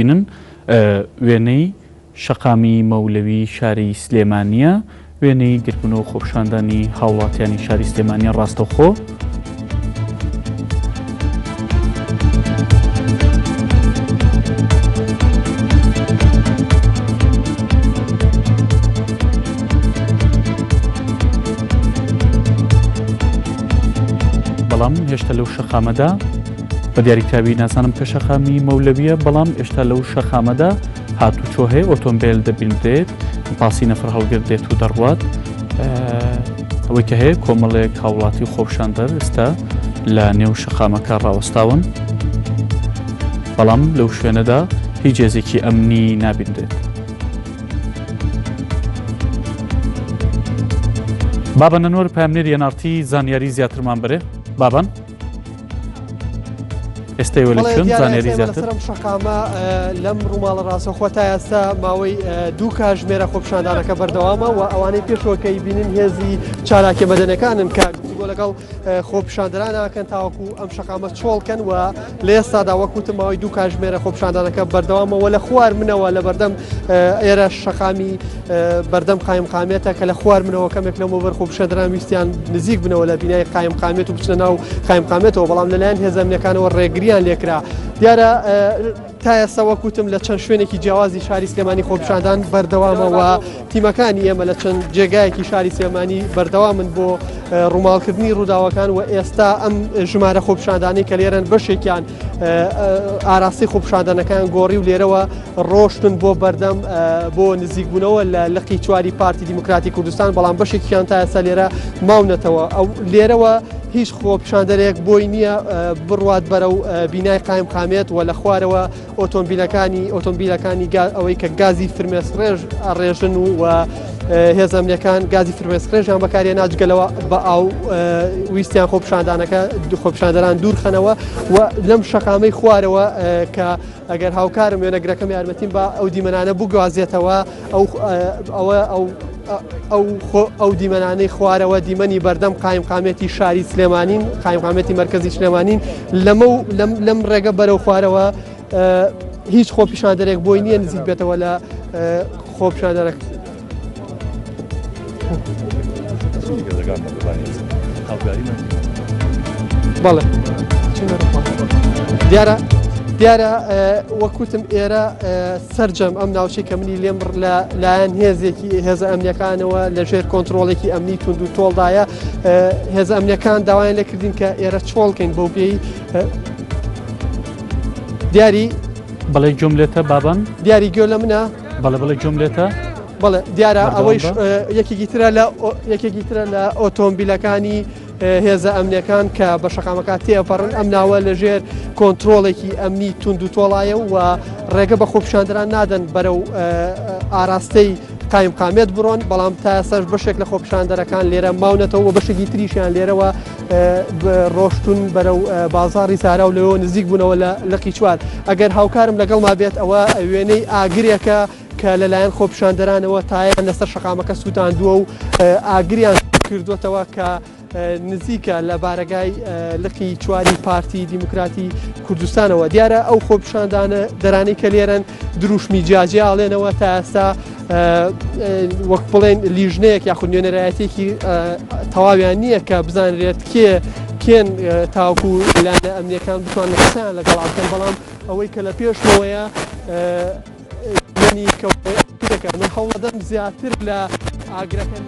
بینن، وێنەی شەقامی مەولەوی شاری سلێمانییە، وێنەی گرتبوون و خۆپیشاندانی هاوڵاتیانی شاری سلێمانیە ڕاستەوخۆ. بەڵام هێشتا لەو شەقامەدا. بە دیاری کراوی نازانم کە شەقامی مەولەویە بەڵام ئێشتا لەو شەقامەدا هاتوچۆ هەیە ئۆتۆمبیل دەبینرێت پاسی نەفر هەڵگر دێت و دەڕوات ئەوەی کە هەیە کۆمەڵێک هاوڵاتی خۆپشاندەر ئێستا لە نێو شەقامەکە ڕاوەستاون بەڵام لەو شوێنەدا هیچ جێزێکی ئەمنی نابینرێت بابە نەنۆر پامنێر یەنارتی زانیاری زیاترمان بەرێ بابن ئێستای وەلی بەڵێ چۆن دیارە زانیاری ئێستای زیاتر بەلەسەرم شەقامە اه، لەم ڕووماڵە ڕاستەخۆ تا ئێستا ماوەی اه، دوو کاژمێرە خۆپیشاندانەکە بەردەوامە و ئەوانەی پێشەوە کە بینین هێزی چالاکیە مەدەنەکانن کە گفتوگۆ لەگەڵ اه، خۆپیشاندەرانەکەن تاوەکو ئەم شەقامە چۆڵکەن و لە ئێستادا وەکوتم ماوەی دوو کاژمێرە خۆپیشاندانەکە بەردەوامەوە لە خوار منەوە لە بەردەم اه، ئێرە شەقامی بەردەم قایمقامێتە کە لە خوار منەوە کەمێک لەمە بەرخۆ بشەدران ویستیان نزیک بنەوە لە بینای قایمقامێت و بچنە ناو قایمقامێتەوە بەڵام لەلایەن هێزەمنەکانەوە ڕێگریان لێکرا دیارە تا ئێستا وەکوتم لە چەند شوێنێکی جیاوازی شاری سلێمانی خۆپشاندان بەردەوامەوە تیمەکانی ئێمە لە چەند جێگایەکی شاری سلێمانی بەردەوا من بۆ ڕووماڵکردنی ڕووداوەکان و ئێستا ئەم ژمارە خۆپشاندانی کە لێرەن بەشێکیان ئاراستەی خۆپشاندانەکان گۆڕی و لێرەوە ڕۆشتن بۆ بەردەم بۆ نزیکبوونەوە لە لقی چواری پارتی دیموکراتی کوردستان بەڵام بەشێکیان تا ئێستا لێرە ماونەتەوە ئەو لێرەوە هیچ خۆپشاندەرێک بۆی نییە بڕوات بەرە و بینای قایم قامێت و لە خوارەوە ئۆتۆمبیلەکانی ئۆتۆمبیلەکانی ئەوەی کە گازی فرمێسڕێژ ڕێژن و هێزە ئەمنیەکان گازی فرمێسکڕێژیان بەکارێنا جگەلەوە بە ئاو ویستیان خۆپشاندانەکە خۆپشاندەران دوورخەنەوە و لەم شەقامەی خوارەوە کە ئەگەر هاوکارم وێنەگرەکەم یارمەتیم بە ئەو دیمەنانە بگوازێتەوە ئەو ئەوە ئەو ئەو دیمەنانەی خوارەوە دیمەنی بەردەم قایمقامێتی شاری سلێمانین قایمقامێتی مرکزی سلێمانین لەمە لەم ڕێگە بەرەو خوارەوە هیچ خۆپیشاندەرێک بۆی نییە نزیک بێتەوە لە خۆپشاندەرەک. بەڵێ دیارە دیارە وەکوتم ئێرە سرجەم ئەم ناوچەی کە منی لێم لە لایەن هێزێکی هێزە ئەمنیەکانەوە لە ژێر کۆنتترۆڵێکی ئەمنی تونند و تۆڵدایە هێزە ئەمنیەکان داوایان لەکردین کە ئێرە چۆڵکەین بۆ پێی دیاری بەڵێ گوێم لێتە بابان دیاری گوێ لە منە بەڵێ بەڵێ گوێم لێتە بەڵێ دیارە ئەوەی یەکێکی ترە لە یەکێکی ترە لە ئۆتۆمبیلەکانی هێزە ئەمنەکان کە بە شقامەکە تێپەڕن ئەم ناوە لەژێر کۆنتترۆڵێکی ئەمنی تونند و تۆڵایە و ڕێگە بە خۆپشاندران نادەن بەرە و ئاراستەی قایم قامێت بڕۆن بەڵام تا سەر بەشێک لە خۆپشاندەرەکان لێرە ماونەتەوە بەشێکی تریشیان لێرەوە ڕۆشتون بەرەو بازاری زارا و لەوە نزیک بوونەوە لە لقی چوار ئەگەر هاوکارم لەگەڵما بێت ئەوە وێنەی ئاگرێکە کە لەلایەن خۆپشاندەرانەوە تایان لەسەر شقامەکە سووتاندووە و ئاگریان کردوتەوە کە نزیکە لە بارەگای لقی چواری پارتی دیموکراتی کوردستانەوە دیارە ئەو خۆپشاندانە دەرانی کە لێرن دروشمی جیاجیاڵێنەوە تا ئێستا وەک بڵێن لیژنەیەک یاخود نوێنەرایەتێکی تەواویان نییە کە بزانرێت کێ کێن تاوکو لایەنە ئەمنیەکان بتوان لەسان لەگەڵ ئاکەن بەڵام ئەوەی کە لە پێشەوەیە منی کەوتەکە من هەوڵەدەم زیاتر لە ئاگرەکەن.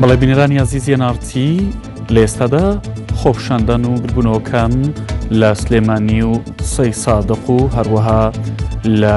بەڵێ بینەرانی عزیزی نارتی لە ئێستادا خۆپشاندان و ببوونەوەکان لە سلێمانی و سەی سادق و هەروەها لە